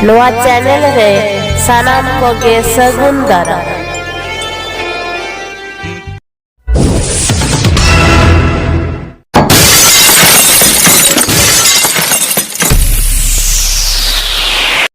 ᱱᱚᱣᱟ ᱪᱮᱱᱮᱞ ᱨᱮ ᱥᱟᱱᱟᱢ ᱠᱚᱜᱮ ᱥᱟᱹᱜᱩᱱ ᱫᱟᱨᱟᱢ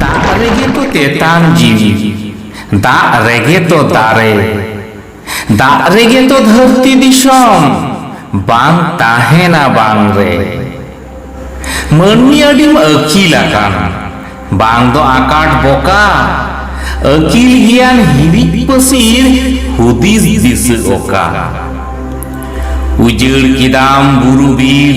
ᱫᱟᱜ ᱨᱮᱜᱮ ᱛᱚ ᱛᱮᱛᱟᱝ ᱡᱤᱣᱤ ᱫᱟᱜ ᱨᱮᱜᱮ ᱛᱚ ᱫᱟᱨᱮ ᱫᱟᱜ ᱨᱮᱜᱮ ᱛᱚ ᱫᱷᱟᱹᱨᱛᱤ ᱫᱤᱥᱚᱢ ᱵᱟᱝ ᱛᱟᱦᱮᱱᱟ ᱵᱟᱝ ᱨᱮ ᱢᱟᱹᱱᱢᱤ ᱟᱹᱰᱤᱢ ᱟᱹᱠᱤᱞ ᱟᱠᱟᱱᱟ ᱵᱟᱝ ᱫᱚ ᱟᱠᱟᱴ ᱵᱚᱠᱟ ᱟᱹᱠᱤᱞ ᱜᱮᱭᱟᱱ ᱦᱤᱨᱤᱡ ᱯᱟᱹᱥᱤᱨ ᱦᱩᱫᱤᱥ ᱫᱤᱥᱟᱹ ᱚᱠᱟ ᱩᱡᱟᱹᱲ ᱠᱮᱫᱟᱢ ᱵᱩᱨᱩ ᱵᱤᱨ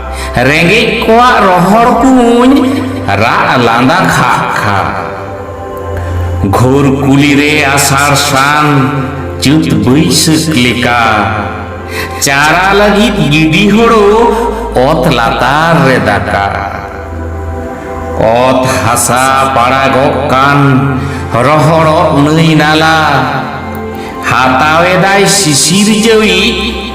ᱨᱮᱸᱜᱮᱡ ᱠᱚᱣᱟᱜ ᱨᱚᱦᱚᱲ ᱠᱩᱧ ᱨᱟᱜ ᱞᱟᱸᱫᱟ ᱠᱷᱟᱜ ᱠᱷᱟᱜ ᱜᱷᱳᱨ ᱠᱩᱞᱤ ᱨᱮ ᱟᱥᱟᱲ ᱥᱟᱱ ᱪᱩᱛ ᱵᱟᱹᱭᱥᱟᱹᱠ ᱞᱮᱠᱟ ᱪᱟᱨᱟ ᱞᱟᱹᱜᱤᱫ ᱜᱤᱰᱤ ᱦᱳᱲᱳ ᱚᱛ ᱞᱟᱛᱟᱨ ᱨᱮ ᱫᱟᱠᱟ ᱚᱛ ᱦᱟᱥᱟ ᱯᱟᱲᱟᱜᱚᱜ ᱠᱟᱱ ᱨᱚᱦᱚᱲᱚᱜ ᱱᱟᱹᱭ ᱱᱟᱞᱟ ᱦᱟᱛᱟᱣᱮᱫᱟᱭ ᱥᱤᱥᱤᱨ ᱡᱟᱹᱣᱤᱡ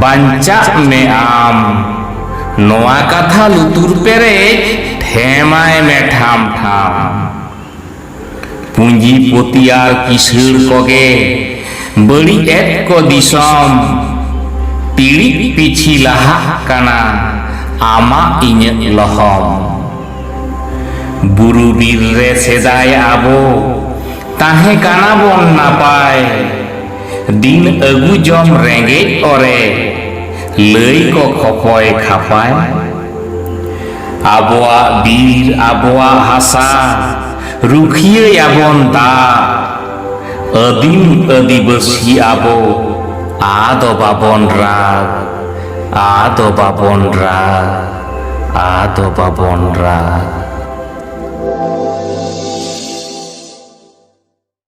ᱵᱟᱧᱪᱟᱜ ᱢᱮ ᱟᱢ ᱱᱚᱣᱟ ᱠᱟᱛᱷᱟ ᱞᱩᱛᱩᱨ ᱯᱮᱨᱮᱡ ᱴᱷᱮᱢᱟᱭ ᱢᱮ ᱴᱷᱟᱢ ᱴᱷᱟᱢ ᱯᱩᱸᱡᱤ ᱯᱚᱛᱤ ᱟᱨ ᱠᱤᱥᱟᱹᱬ ᱠᱚᱜᱮ ᱵᱟᱹᱲᱤᱡ ᱮᱫ ᱠᱚ ᱫᱤᱥᱚᱢ ᱴᱤᱲᱤᱡ ᱯᱤᱪᱷᱤ ᱞᱟᱦᱟᱜ ᱠᱟᱱᱟ ᱟᱢᱟᱜ ᱤᱧᱟᱹᱜ ᱞᱚᱦᱚᱢ ᱵᱩᱨᱩ ᱵᱤᱨ ᱨᱮ ᱥᱮᱫᱟᱭ ᱟᱵᱚ ᱛᱟᱦᱮᱸ ᱠᱟᱱᱟ ᱵᱚᱱ ᱱᱟᱯᱟᱭ ᱫᱤᱱ ᱟᱹᱜᱩ ᱡᱚᱢ ᱨᱮᱸᱜᱮᱡ ᱚᱨᱮ ᱞᱟᱹᱭ ᱠᱚ ᱠᱷᱚᱯᱚᱭ ᱠᱷᱟᱯᱟᱭ ᱟᱵᱚᱣᱟᱜ ᱵᱤᱨ ᱟᱵᱚᱣᱟᱜ ᱦᱟᱥᱟ ᱨᱩᱠᱷᱤᱭᱟᱹᱭᱟᱵᱚᱱ ᱫᱟᱜ ᱟᱹᱫᱤᱢ ᱟᱹᱫᱤᱵᱟᱹᱥᱤ ᱟᱵᱚ ᱟᱫᱚ ᱵᱟᱵᱚᱱ ᱨᱟᱜ ᱟᱫᱚ ᱵᱟᱵᱚᱱ ᱨᱟᱜ ᱟᱫᱚ ᱵᱟᱵᱚᱱ ᱨᱟᱜ